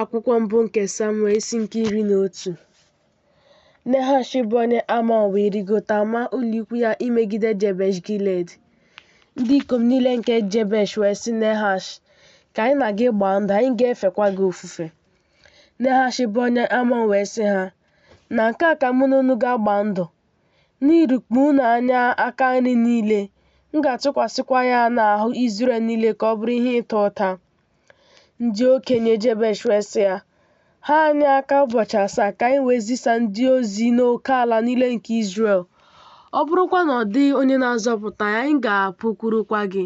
Akwụkwọ mbụ nke Samuel isi nke iri na otu Nehash bụ onye Amọn wee rigota maa ụlọikwu ya imegide Jebesh Gilead. Ndị ikom niile nke Jebesh wee sị Nehash, Ka anyị na gị gbaa ndụ, anyị ga-efekwa gị ofufe. Nehash bụ onye Amọn wee sị ha, Na nke a ka mụ na unu ga-agba ndụ, n'irikpu unu anya aka nri niile, m ga-atụkwasịkwa ya n'ahụ Izrel niile ka ọ bụrụ ihe ịta ụta. Ndị okenye Jebesh wee sị ya, Ha anyị aka ụbọchị asaa ka anyị wee zisa ndị ozi n'oke ala niile nke Izrel. Ọ bụrụkwa na ọ dịghị onye na-azọpụta anyị, anyị ga-apụkwurukwa gị.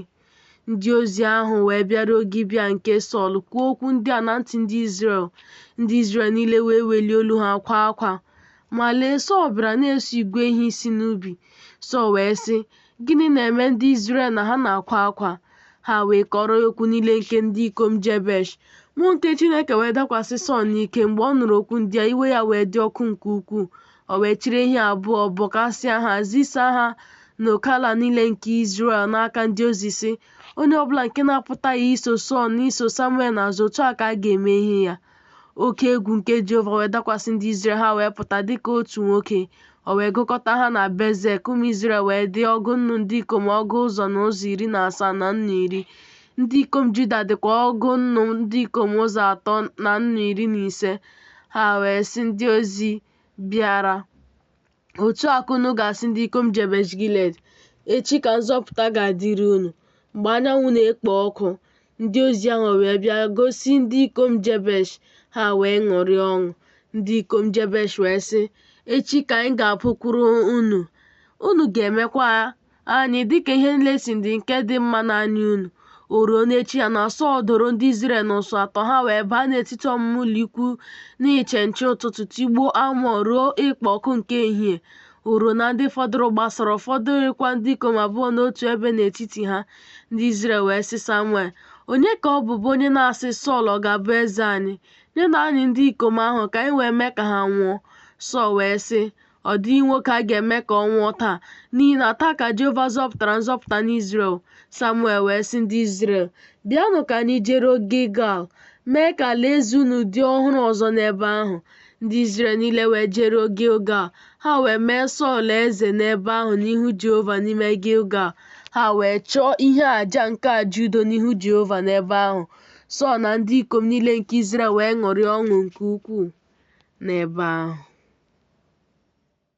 Ndị ozi ahụ wee bịaruo Gibea nke Sọl kwuo okwu ndị a na ntị ndị Izrel. Ndị Izrel niile wee welie olu ha kwaa akwa. Ma lee, Sọl bịara na-eso igwe ehi si n'ubi. Sọl wee sị, Gịnị na-eme ndị Izrel na ha na-akwa akwa? Ha wee kọrọ ya okwu niile nke ndị ikom Jebesh. Mmụọ nke Chineke wee dakwasị Sọl n'ike mgbe ọ nụrụ okwu ndị a, iwe ya wee dị ọkụ nke ukwuu. O wee chịrị ehi abụọ, bọkasịa ha, zisa ha n'oke ala niile nke Izrel n'aka ndị ozi sị, Onye ọbụla nke na-apụtaghị iso Sọl na iso Samuel n'azụ, otu a ka a ga-eme ehi ya. Oke egwu nke Jehova wee dakwasị ndị Izrel, ha wee pụta dị ka otu nwoke. O wee gụkọta ha na Bezek, ụmụ Izrel wee dị ọgụ nnu ndị ikom ọgụ ụzọ na ụzọ iri na asaa na nnu iri. Ndị ikom Juda dịkwa ọgụ nnu ndị ikom ụzọ atọ na nnu iri na ise. Ha wee sị ndị ozi bịara, Otu a ka unu ga-asị ndị ikom Jebesh Gilead, Echi ka nzọpụta ga-adịrị unu mgbe anyanwụ na-ekpo ọkụ. Ndị ozi ahụ wee bịa gosi ndị ikom Jebesh, ha wee ṅụrịa ọṅụ. Ndị ikom Jebesh wee sị, Echi ka anyị ga-apụkwuru unu, unu ga-emekwa Anyị dịka ihe niile si dị nke dị mma n'anya unu. O ruo n'echi ya na Sọl doro ndị Izrel n'ụsụ atọ, ha wee baa n'etiti ọmụma ụlọikwu n'iche nche ụtụtụ tigbuo Amọn ruo ikpo ọkụ nke ehihie. O ruo na ndị fọdụrụ gbasara, ọ fọdụghịkwa ndị ikom abụọ n'otu ebe n'etiti ha. Ndị Izrel wee sị Samuel, Onye ka ọ bụ bụ onye na-asị Sọl ọ ga-abụ eze anyị? Nyenụ anyị ndị ikom ahụ ka anyị wee mee ka ha nwụọ. Sọl wee sị, Ọ dịghị nwoke a ga-eme ka ọ nwụọ taa, n'ihi na taa ka Jehova zọpụtara nzọpụta n'Izrel. Samuel wee sị ndị Izrel, Bịanụ ka anyị jeruo Gilgal, mee ka alaeze unu dị ọhụrụ ọzọ n'ebe ahụ. Ndị Izrel niile wee jeruo Gilgal, ha wee mee Sọl eze n'ebe ahụ n'ihu Jehova n'ime Gilgal. Ha wee chụọ ihe aja nke aja udo n'ihu Jehova n'ebe ahụ. Sọl na ndị ikom niile nke Izrel wee ṅụrịa ọṅụ nke ukwuu n'ebe ahụ.